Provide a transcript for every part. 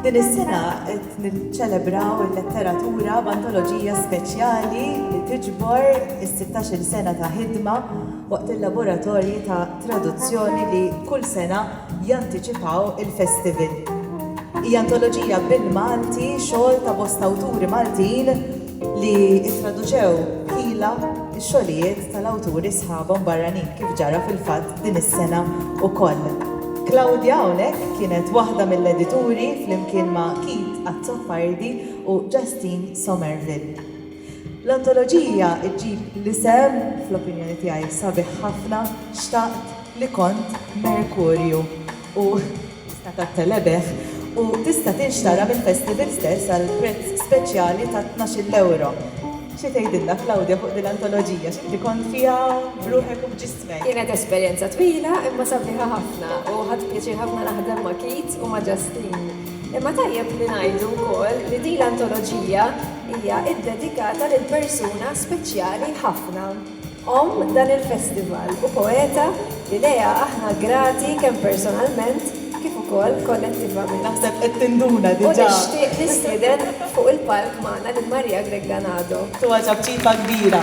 Din is-sena qed niċċelebraw il-letteratura b'antoloġija speċjali li tiġbor is-sittax-il sena ta' ħidma waqt il-laboratorji ta' traduzzjoni li kull sena jantiċipaw il-festival. Hija antoloġija bil-Malti, xogħol ta' bosta awturi Maltin, li ttraduċew ħila x-xogħlijiet tal-awturi sħabhom barranin, kif ġara fil-fatt din is-sena wkoll. Claudia hawnhekk kienet waħda mill-edituri flimkien ma' Keith Azzopardi u Justine Somerville. L-antoloġija ġġib l-isem, fl-opinjoni tiegħi sabiħ ħafna, Xtaqt li kont Merkurju u, Tista' tattelebeħ u tista' tinxtara mill-festival stess għal prezz speċjali ta' tnax-il ewro. Xi tgħidilna Claudia fuq din l-antoloġija? X'inti kont fiha b'ruħek u b'ġismek? Kienet esperjenza twila imma sabiħa ħafna u ħadt pjaċir ħafna naħdem ma' Keith u ma' Justine. Imma tajjeb li ngħidu wkoll li din l-antoloġija hija ddedikata lil persuna speċjali ħafna. Omm dan il-festival u poeta li lejha aħna grati kemm personalment kif ukoll kollettivament. Naħseb qed tinduna diġà. U nixtieq nistieden fuq il-palk magħna lil Maria Grech Ganado. Tuha ċapċipa kbira.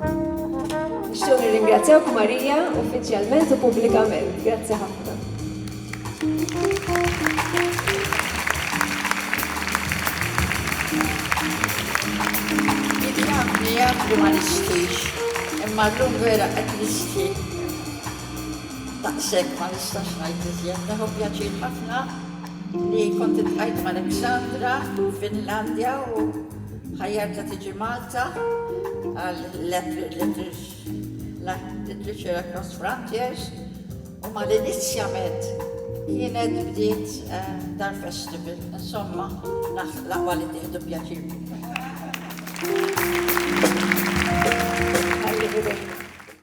Nixtiequ nirringrazzjawk Marija uffiċjalment u pubblikament. Grazzi ħafna. Jafri ma nistix, imma l-lum vera qed nisti. Taqsek ma nistax ngħid iżjed, neħu pjaċir ħafna li kont il-ħajt ma' Alexandra, Finlandja u Ħajjarta tiġi Malta għal Literature Across Frontiers u mal-inizjament kienet bdiet Dar Festival. Insomma, laqwa li tieħdu pjaċir biha.